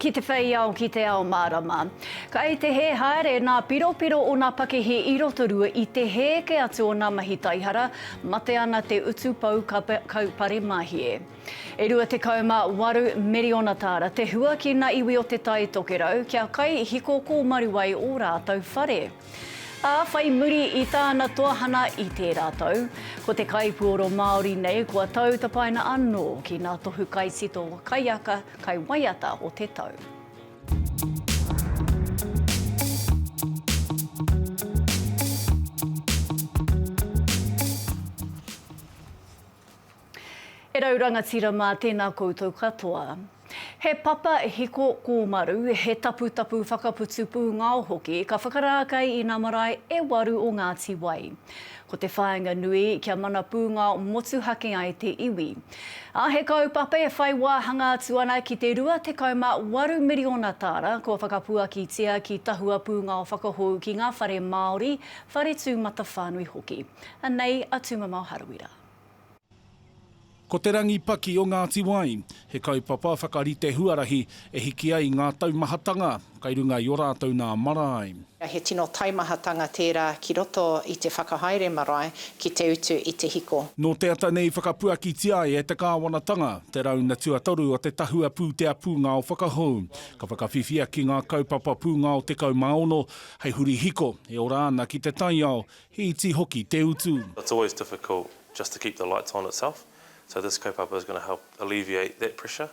Ki te whei ao, ki te ao mārama. Kai te hē haere nā piropiro o nā pakihi i Rotorua i te hē kē atu o nā mahi taihara, mate ana te utu pou kaupare mahie. E 28 miriona tāra te hua ki nā iwi o Te Tai Tokerau kia kai hiko kōmaru ai ō rātou whare. Ā, whai muri i tāna toahana i tērā tau, ko te kaipuoro Māori nei kua tau tapaina anō ki ngā tohu kaitito kaiaka kai waiata o te tau. E rau rangatira mā tēnā koutou katoa. He papa hiko kōmaru, he taputapu whakaputu pūngao hoki ka whakarākei i nā marae e waru o Ngāti Wai. Ko te whāinga nui kia mana pūngao motuhake ai te iwi. Ā, he kaupapa e whai wāhanga atu ana ki te 28 miriona tāra kua whakapuakitia ki tahua pūngao whakahou ki ngā whare Māori, whare tūmatawhānui hoki. Anei a Tūmamao Harawira. Ko Te Rangi Paki o Ngāti Wai, he kaupapa whakarite huarahi e hiki ai ngā taumahatanga kai runga i o rātou nā marae. He tino taimahatanga tērā ki roto i te whakahaere marae ki te utu i te hiko. Nō te ata nei whakapuakitia ai e te kāwanatanga te rauna tuatoru o te tahua pūtea pūngao whakahou. Ka whakawhiwhia ki ngā kaupapa pūngao 16 hei huri hiko e ora ana ki te taiao He iti hoki te utu. It's always difficult just to keep the lights on itself, so this kaupapa is going to help alleviate that pressure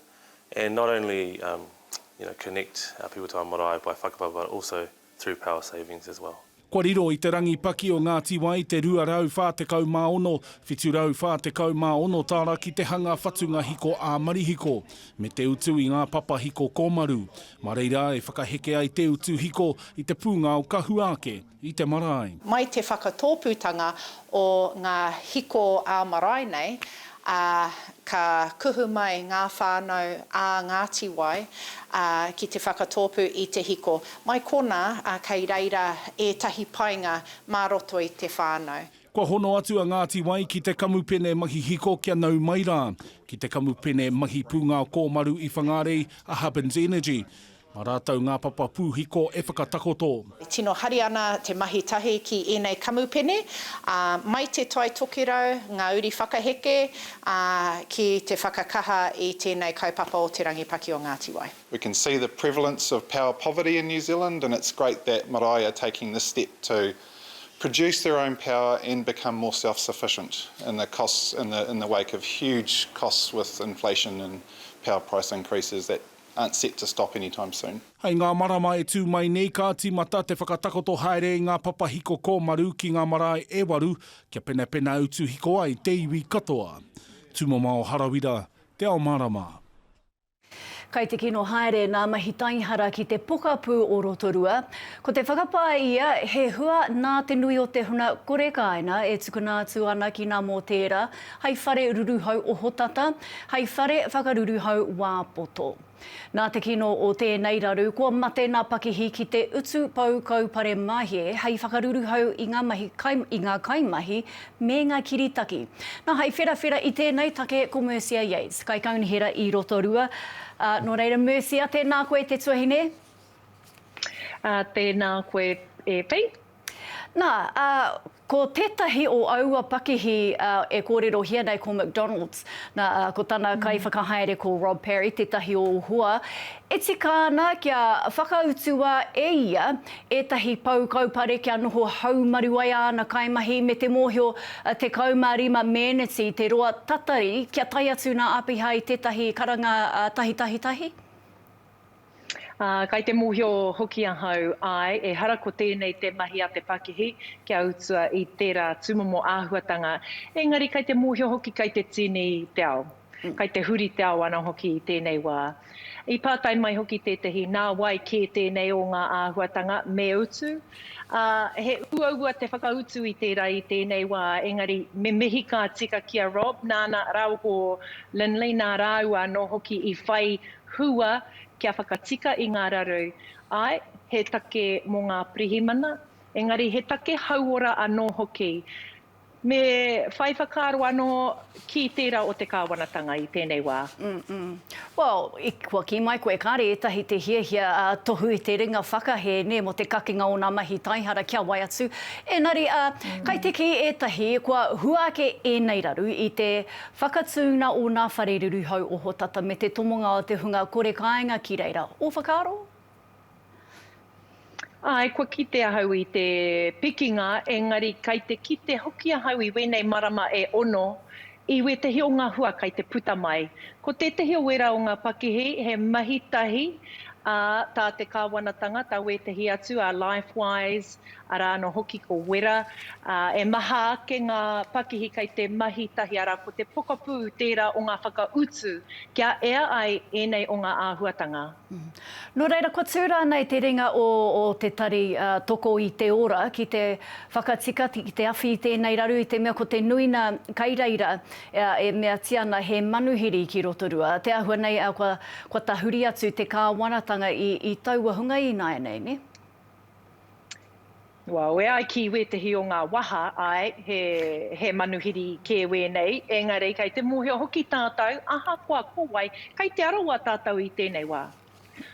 and not only you know connect our people to our marae by whakapapa but also through power savings as well. Kua riro i te rangi paki o Ngā Tiwai te 246, 746 tāra ki te hanga whatunga hiko ā-marihiko, me te utu i ngā papa hiko kōmaru. Mā reira e whakaheke ai te utu hiko i te pūngao ka hua ake. I te marae. Mai te whakatōpūtanga o ngā hiko ā-marae nei, ā, ka kuhu mai ngā whānau ā Ngāti Wai, ā, ki te whakatōpū i te hiko. Mai konā, ā, kei reira ētahi painga mā roto i te whānau. Kua hono atu a Ngāti Wai ki te kamupene mahi hiko kia nau mai rā, ki te kamupene mahi pūngao kōmaru i Whangārei, a Hubbins Energy. Mā rātou ngā papa pūhiko e whakatakoto. E tino hari ana te mahi tahi ki ēnei kamupene, ā, mai Te Tai Tokerau ngā uri whakaheke, ā, ki te whakakaha i tēnei kaupapa o Te Rangi Paki o Ngāti Wai. We can see the prevalence of power poverty in New Zealand and it's great that marae are taking this step to produce their own power and become more self-sufficient in the costs in the in the wake of huge costs with inflation and power price increases that aren't set to stop anytime soon. Hei ngā marama e tū mai nei ka tīmata te whakatakoto haere i ngā papahiko kōmaru ki ngā marae e waru kia penapena utu hiko ai te iwi katoa. Tūmamao Harawira, Te Ao Mārama. Kai te kino haere nā Mahi Taihara ki te pokapū o Rotorua. Ko te whakapā ia he hua nā te nui o te huna korekāina e tukuna atu ana ki nā mō tērā, Hei whare ruruhau ohotata, hei whare whakaruruhau wā poto. Nā te kino o tēnei raru, kua mate nā pakihi ki te utu pou kaupare mahie hei whakaruruhau i ngā mahi kai, i ngā kaimahi me ngā kiritaki. Nā, hei wherawhera i tēnei take ko Mercia Yates, Kaikaunihera i Rotorua. Ā, nō reira Mercia, tēnā koe te tuahine. Ā, tēnā koe e Pete. Nā, ā, Ko tētahi o aua pakihi e kōrerohia nei ko McDonald's, nā, ko tana kaiwhakahaere ko Rob Parry, tētahi o Uhoa. E tika ana kia whakautua e ia ētahi pou kaupare kia noho haumaru ai āna kaimahi me te mōhio 15 meneti te roa tatari kia tae atu nā Apiha i tētahi karanga tahitahi tahi. Ā, kai te mōhio hoki ahau, āe, ehara ko tēnei te mahi a te pakihi, kia utua i tērā tūmomo āhuatanga, engari kai te mōhio hoki kai te tīni te ao, kai te huri te ao ana hoki i tēnei wā. I pātai mai hoki tētehi, nā wai kē tēnei o ngā āhuatanga me utu? Ā, he uaua te whakautu i tērā i tēnei wā, engari me mihi ka tika ki a Rob nāna rāua ko Lynley nā rāua anō hoki i whai Hua kia whakatika i ngā raru. Āe, he take mō ngā pirihimana, engari he take hauora anō hoki. Me whai whakaaro anō ki tērā o te kāwanatanga i tēnei wā. Umm. Well, kua kī mai koe, kāre ētahi te hiahia tohu i te ringa whakahē, nē, mō te kakinga o ngā mahi taihara kia wai atu. Engari, kai te kī ētahi, kua hua ake ēnei raru i te Whakatūnga o ngā whare ruruhau ohotata me te tomonga o te hunga kore kāinga ki reira. Ō whakaaro? Āe, kua kite ahau i te pikinga, engari kei te kite hoki ahau i wēnei marama e ono, i wētahi o ngā hua kei te puta mai. Ko tētahi o wērā o ngā pakihi, he mahi tahi, ā, tā te kāwanatanga, tā wētahi atu, ā, Lifewise, Arā anō hoki ko Wera, ā, e maha ake ngā pakihi kei te mahi tahi, arā, ko te pokapū tērā o ngā whakautu kia ea ai ēnei o ngā āhuatanga. Nō reira, kua tū rānei te ringa o te tari toko i te ora ki te whakatika, ki te awhi i tēnei raru, i te mea ko te nuina kei reira e meatia ana he manuhiri ki Rotorua, te āhua nei kua tahuri atu te kāwanatanga i taua hunga ināianei, nē? Well, e ai ki wētehi o ngā waha, āe, he, he manuhiri kē wēnei, engari kei te mōhio hoki tātou, ahakoa ko wai, kei Te Arawa tātou i tēnei wā.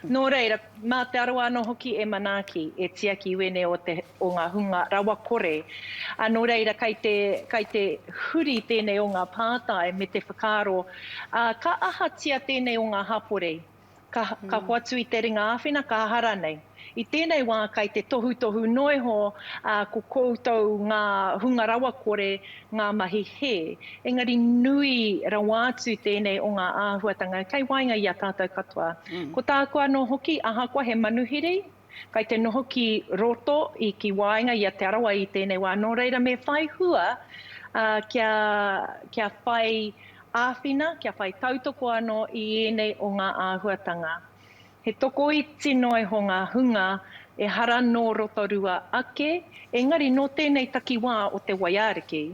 Nō reira, mā Te Arawa anō hoki e manaaki, e tiaki i wēnei o te, o ngā hunga rawakore. Ā, nō reira, kei te, kei te huri tēnei o ngā pātai me te whakaaro, ā, ka ahatia tēnei o ngā hapori? ka, ka hoatu i te ringa āwhina, ka aha rānei. I tēnei wā kai te tohutohu noa iho ā, ko koutou ngā hunga rawakore ngā mahi hē. Engari nui rawa atu tēnei o ngā āhuatanga kei waenga i a tātou katoa. Ko tāku anō hoki, ahakoa he manuhiri, Kai te noho ki roto i ki waenga i a Te Arawa i tēnei wā, nō reira me whai hua kia kia whai āwhina, kia whai tautoko anō i ēnei o ngā āhuatanga. He tokoiti noiho ngā hunga ehara nō Rotorua ake, engari nō tēnei takiwā o te waiariki.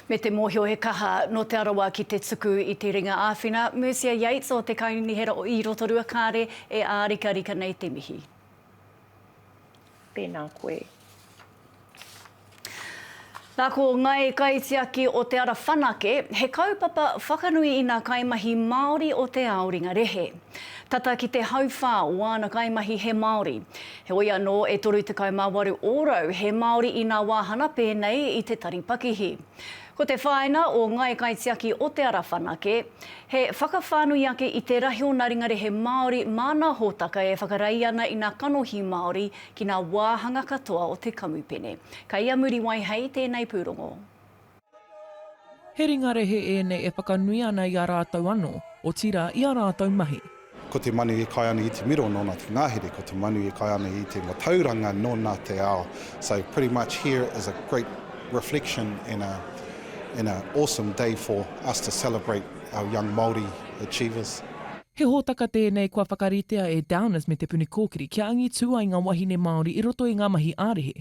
Me te mōhio he kaha nō Te Arawa ki te tuku i te ringa āwhina, Mercia Yates o te Kaunihera o i Rotorua kāre e ārikarika nei te mihi. Tēnā koe. Nā ko Ngai Kaitiaki o Te Ara Whanake, he kaupapa whakanui i nā kaimahi Māori o te ao ringarehe. Tata ki te hauwhā o āna kaimahi he Māori. Heoi anō, e 38 ōrau he Māori inā wāhana pēnei i te tari pakihi. Ko te whāina o Ngāi Kaitiaki o Te Ara Whanake, he whakawhānui ake i te rahi o nā ringarehe Māori mā nā hōtaka e whakarei ana i nā kanohi Māori ki nā wāhanga katoa o te kamupene. Kei a Muriwai hei tēnei pūrongo. He ringa rehe ēnei e whakanui ana i a rātou anō, otirā i a rātou mahi. Ko te manu e kai ana i te miro nona te ngahere, ko te manu e kai ana i te matauranga nona te ao, so pretty much here is a great reflection and a and a awesome day for us to celebrate our young Māori achievers. He hōtaka tēnei kua whakaritea e Downers me Te Puni Kōkiri kia angitū ai ngā wahine Māori i roto i ngā mahi ā-rehe,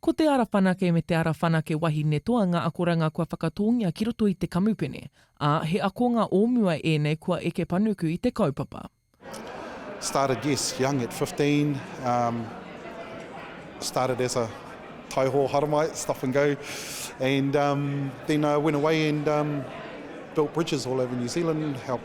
Ko te ara whanake me te ara whanake wahine toa ngā akoranga kua whakatōngia ki roto i te kamupene, ā, he akonga o mua ēnei kua eke panuku i te kaupapa. Started yes young at fifteen um started as a taiho haramai stop and go and um then I went away and um built bridges all over New Zealand helped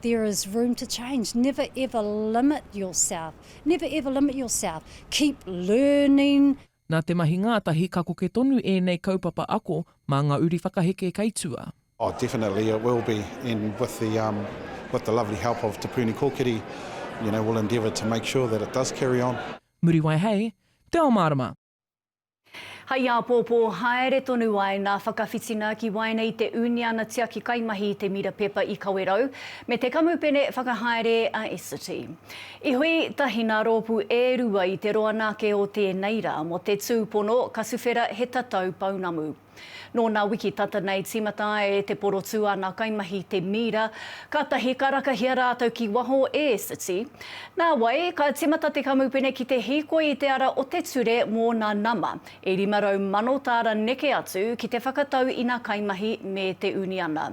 There is room to change, never ever limit yourself, never ever limit yourself, keep learning. Nā te mahi ngātahi ka koke tonu ēnei kaupapa ako mā ngā uri whakaheke kei tua. Oh definitely it will be and with the um with the lovely help of Te Puni Kōkiri you know we'll endeavour to make sure that it does carry on. Muriwai Hei te ao mārama. Hai āpōpō haere tonu ai ngā whakawhitinga ki waenga i te Uniana Tiaki Kaimahi Te Mira Pepa i Kawerau me te Kamupene Whakahaere a Essity. I hui tahi ngā rōpū e rua i te roa nāke o tēnei rā mō te tūpono Katuwhera he tatau pounamu. Nō nā wiki tata nei tīmata e Te Porotū āna kaimahi te mīra, kātahi ka rakahia rātou ki waho e City. Nāwai, ka tīmata te kamupene ki te hīkoi i te ara o te ture mō nā nama e 500,000 tāra neke atu ki te whakatau i nā kaimahi me te uniana.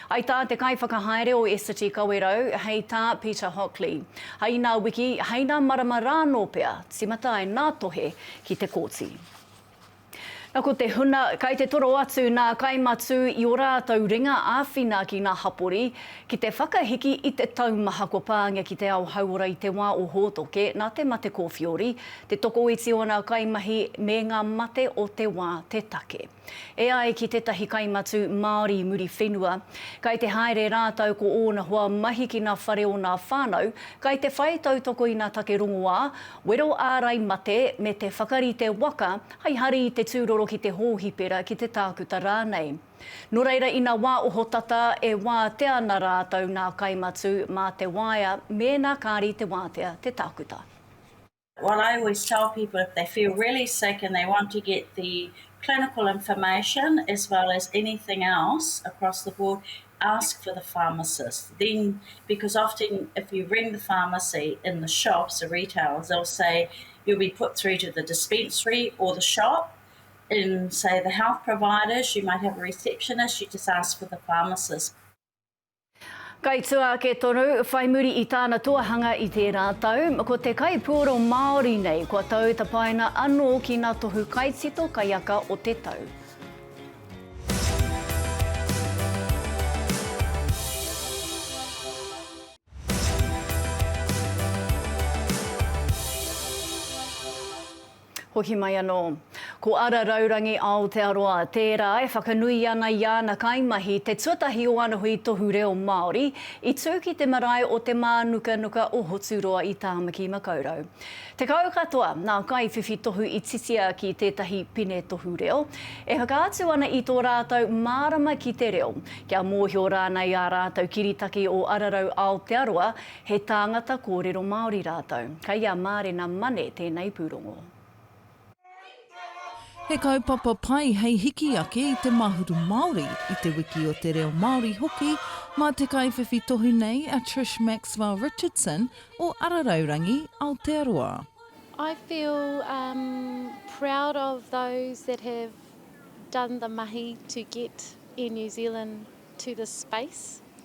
I tā te kaiwhakahaere o City Kawerau, hei tā Peter Hockley, hei nā wiki, hei nā marama rā nō pea, tīmata ai nā tohe ki te kōti. Na ko te huna kai te toro atu na kai matu i o ratou ringa awhina ki nga hapori ki te whakahiki i te taumaha kua pangia ki te ao hauora i te wa o Hotoke na te mate kofiori te tokoiti o na kaimahi me nga mate o te wa te take e ai ki tetahi kai matu Maori muri whenua kai te haere ratou ko ona hoa mahi ki na whare o na whanau kai te whai tautoko i na take rongoa Wero ārai mate me te whakarite waka hai hari i te tūroro ki te hōhipera, ki te tākuta rānei. Nō reira ina wā ohotata e wātea ana rātou nā Kai Matu mā te waea mēnā kāri te wātea te tākuta. What I always tell people if they feel really sick and they want to get the clinical information as well as anything else across the board ask for the pharmacist then because often if you ring the pharmacy in the shops the retailers they'll say you'll be put through to the dispensary or the shop in say the health providers you might have a receptionist you just ask for the pharmacist Kai tua ake tonu, whai muri i tāna tuahanga i tērā tau, ko te kaipuoro Māori nei kua tau tapaina anō ki nā tohu kaitito kaiaka o te tau. Hoki mai anō. Ko Ara Raurangi Aotearoa tērā e whakanui ana i ana kaimahi te tuatahi o ana hui tohu reo Māori i tū ki te marae o Te Mānukanuka o Hoturoa i Tāmaki Makaurau. Tekau katoa ngā kaiwhiwhi tohu i titia ki tētahi pine tohu reo, e whakaatu ana i tō rātou mārama ki te reo, kia mōhio rānei ā rātou kiritaki o Ararau Aotearoa he tāngata kōrero Māori rātou. Kei a Mārena Mane tēnei pūrongo. He kaupapa pai hei hiki ake i te mahuru Māori, i te wiki o te reo Māori hoki, mā te kaiwhiwhi tohu nei a Trish Maxwell Richardson o Araraurangi, Aotearoa. I feel um proud of those that have done the mahi to get Air New Zealand to this space.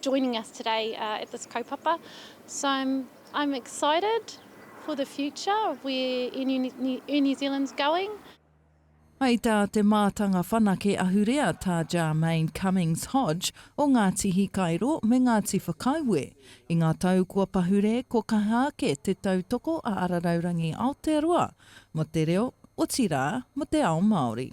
joining us today at this kaupapa so I'm excited for the future of where Air New Zealand's going. Hai tā te mātanga whanake ahurea tā Jarmaine Cummings Hodge o Ngāti Hikairo me Ngāti Whakaue. I ngā tau kua pahure ko kaha ake te tautoko a Araraurangi Aotearoa mo te reo, otirā mo te ao Māori.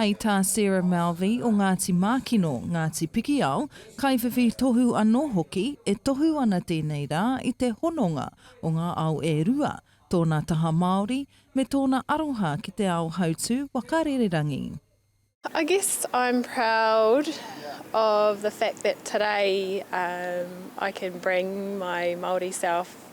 Hei tā Sarah Malvey o Ngāti Mākino, Ngāti Pikiao, kaiwhiwhi tohu anō hoki, e tohu ana tēnei rā i te hononga o ngā ao e rua, tōna taha Māori, me tōna aroha ki te ao hautū waka rererangi. I guess I'm proud of the fact that today I can bring my Māori self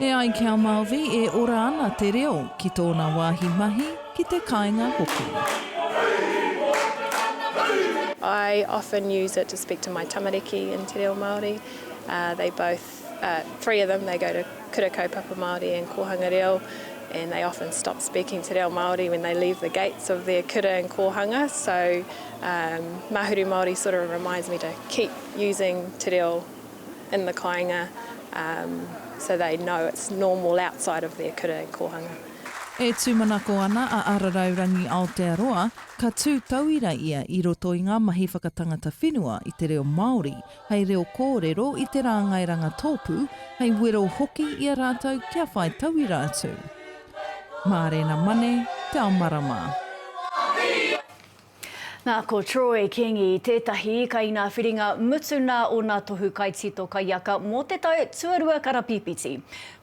E ai ki a Malvi, e ora ana te reo ki tōna wāhi mahi, ki te kāinga hoki. I often use it to speak to my tamariki in te reo Māori. They both, three of them, they go to Kura Kaupapa Māori and Kōhanga Reo and they often stop speaking te reo Māori when they leave the gates of their kura and kōhanga so Mahuru Māori sort of reminds me to keep using te reo in the kāinga um so they know it's normal outside of their kura and kōhanga. E tūmanako ana a Ararau Rangi Aotearoa, ka tū tauira ia i roto i ngā mahi whakatangata whenua i te reo Māori hei reo kōrero i te rāngai rangatōpū, hei wero hoki i a rātou kia whai tauira atu. Mārena Mane, Te Ao Marama. Nā, ko Troy Kingi tētahi kaingāwhiringa mutu nā ōna tohu kaitito kaiaka mō te tau tuarua karapīpiti.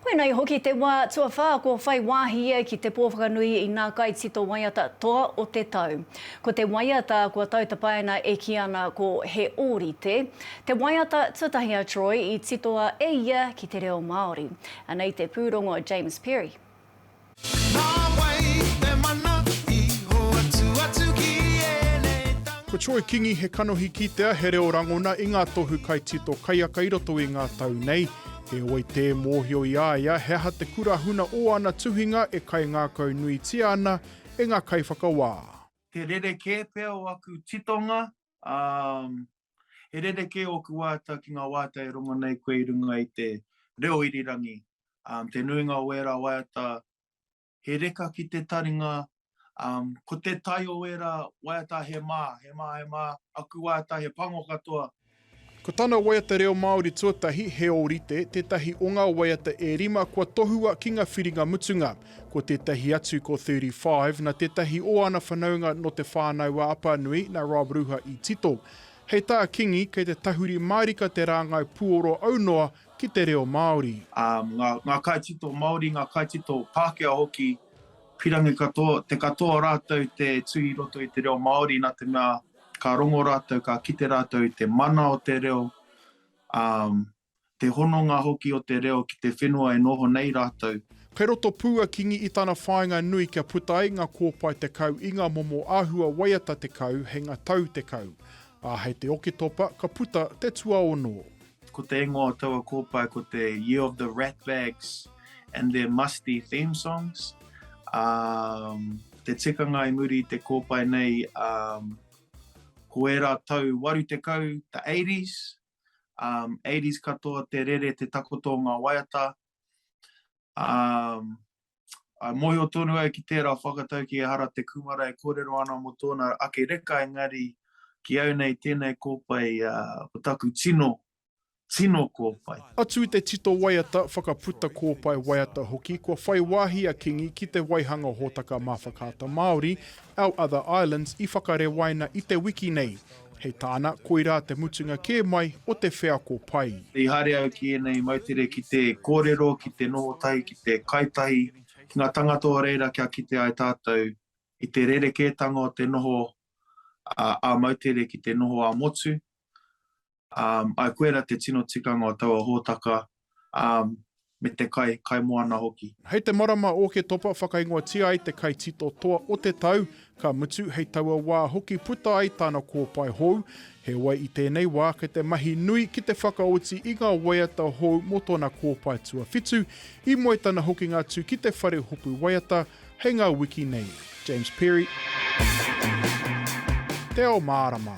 Koinei hoki te wā tuawhā kua whai wāhi ia ki te pō whakanui i ngā kaitito waiata toa o te tau. Ko te waiata kua tautapaina e kī ana ko He Ōrite te waiata tuatahi a Troy i titoa e ia ki te reo Māori. Anei te pūrongo James Perry. Ko Troy Kingi he kanohi kitea, he reo rangona i ngā tohu kaitito kaiaka i roto i ngā tau nei. Heoi tē mōhio i a ia he aha te kura huna ō ana tuhinga e kaingākau nuitia ana e ngā kaiwhakawā. Te rerekē pea o aku titonga, ā, He rerekē ōku wāta ki ngā wāta e rongo nei koe i runga i te reo irirangi, ā, te nuinga o ērā waiata he reka ki te taringa, ā, ko te tae o ērā waiata he mā, he mā, he mā, aku wāta he pango katoa. Ko tana waiata reo Māori tuatahi he ōrite, tētahi o ngā waiata e rima kua tohua ki ngā whiringa mutunga. Ko tētahi atu ko 35, na tētahi o ana whanaunga nō Te Whānau-a-Apanui, na Rob Ruha i tito. Hei tā Kingi, kei te tahuri mārika te rāngai puoro aunoa ki te reo Māori. Ā, ngā, ngā kaitito Māori, ngā kaitito Pākehā hoki, pirangi katoa, te katoa rātou te tū i roto i te reo Māori, nā te mea ka rongo rātou, ka kite rātou i te mana o te reo, ā, te hononga hoki o te reo ki te whenua e noho nei rātou. Kei roto pū a Kingi i tana whāinga nui kia puta ai ngā kōpae tekau i ngā momo āhua waiata tekau hei ngā tau tekau, ā, hei te Oketopa ka puta te tuaono. Ko te ingoa o taua kōpae ko te Year of the Ratbags and their Musty Theme Songs, ā, te tikanga i muri i te kōpae nei, ā, ko ērā tau waru tekau, the eighties, um, 80s katoa te rere te takoto o ngā waiata. Um, I mohio tonu ai ki tērā whakatau ki ehara te kumara e kōrero ana mō tōna ake reka, engari ki au nei tēnei kōpai uh, ko taku tino, tino kōpai. Atu i te tito waiata, whakaputa kōpai waiata hoki, kua whai wāhi a Kingi ki te waihanga hōtaka mā Whakaata Māori, Our Other Islands, i whakarewaina i te wiki nei. Hei tāna, koirā te mutunga kē mai o te wheako pai. I haere au ki ēnei moutere ki te kōrero, ki te noho tahi, ki te kai tahi ki ngā tangata o reira kia kite ai tātou i te rerekētanga o te noho ā-moutere ki te noho ā-motu. Ā, ai koe ra te tino tikanga o taua hōtaka, me te kai, kai moana hoki. Hei te marama Ōketopa whakaingoatia ai te kai tito toa o te tau, ka mutu hei taua wā hoki puta ai tāna kōpae hou. Heoi i tēnei wā kei te mahi nui ki te whakaoti i ngā waiata hou mō tōna kōpae tuawhitu, i moe tana hokinga atu ki te whare hopu waiata hei ngā wiki nei. James Perry. Te Ao Mārama.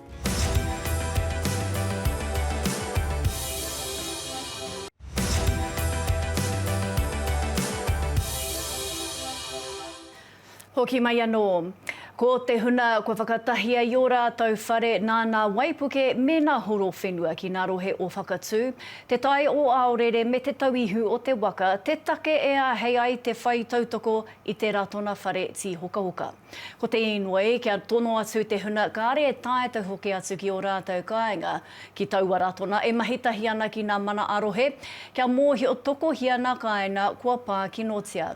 Hoki mai anō. Ko te huna kua whakatahia i ō rātou whare nā nā waipuke me nā horo whenua ki nā rohe o Whakatū, Te Tai o Aorere me Te Tauihu o te Waka te take e āhei ai te whai tautoko i te Ratona Whare Tīhokahoka. Ko te īnoi, kia tono atu te huna kāre e taetae hoki atu ki ō rātou kāinga, ki taua ratona e mahi tahi ana ki nā mana ā-rohe, kia mōhio tokohia nā kāinga kua pā kinotia.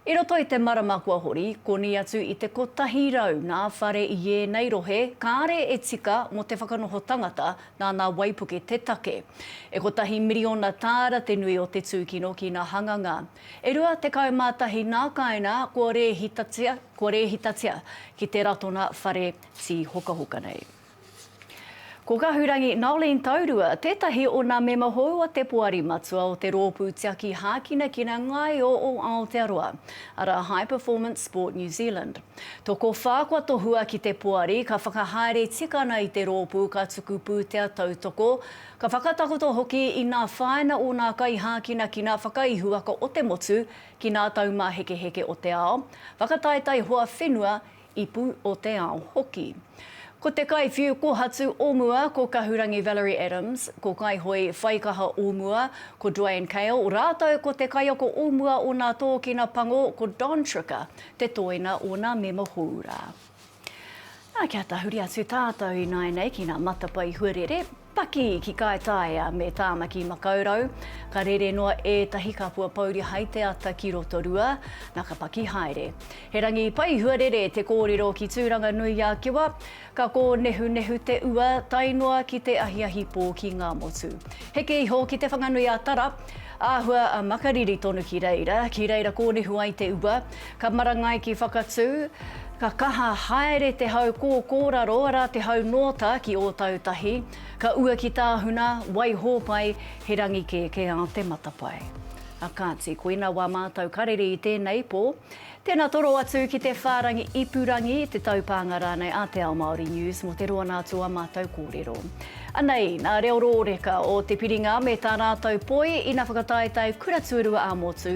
I roto i te marama kua hori, koni atu i te kotahi rau nā whare i ēnei rohe kāre e tika mō te whakanoho tangata nā nā waipuke te take. E kotahi miriona tāra te nui o te tūkino ki nā hanganga. E rua tekau mā tahi nā kāinā kua rēhitatia, kua rēhitatia ki te Ratona Whare Tīhokahoka nei. Ko Kahurangi Noeline Taurua tētahi o nā mema hou a te Poari Matua o te Rōpū Tiaki Hākinakina Ngaio o Aotearoa, arā High Performance Sport New Zealand. Tokowhā kua tohua ki te Poari ka whakahaere tikana i te rōpū ka tuku pūtea tautoko Ka whakatakoto hoki i nā whāina o nā kaihākinakina whakaihuwaka o te motu ki nā taumāhekeheke o te ao, whakataetae hoa whenua, ipu o te ao hoki. Ko te kaiwhiu kohatu o mua ko Kahurangi Valerie Adams, ko Kaihoe Whaikaha o mua ko Duane Kale rātou ko te kaiako o mua o nā Tōkina Pango ko Don Tricker te tōina o nā mema hōura. Nā, kia tahuri atu tātou ināianei ki ngā matapae huarere, paki ki Kaitaia me Tāmaki Makaurau. Ka rere noa ētahi kapua pouri hai te ata ki Rotorua, nā ka paki haere. He rangi pai huarere te kōrero ki Tūranganui-a-Kiwa, ka kōnehunehu te ua tae noa ki te ahiahi pō ki Ngāmotu. Heke iho ki Te Whanganui-a-Tara, āhua a Makariri tonu ki reira, ki reira kōnehu ai te ua, Ka marangai ki Whakatū, ka kaha haere te hau kōkōraro, arā te hau nōta ki Ōtautahi, ka ua ki Tāhuna, Waihōpai, he rangi kēkēā te matapae. A Kāti, koina wā mātou ka rere i tēnei pō. Tēnā toro atu ki te whārangi ipurangi, te taupānga rānei a Te Ao Māori News mō te roa nā tō a mātou kōrero. Anei nā reo rōreka o te piringa me tā rātou poi ina whakataetae kura tuarua ā-motu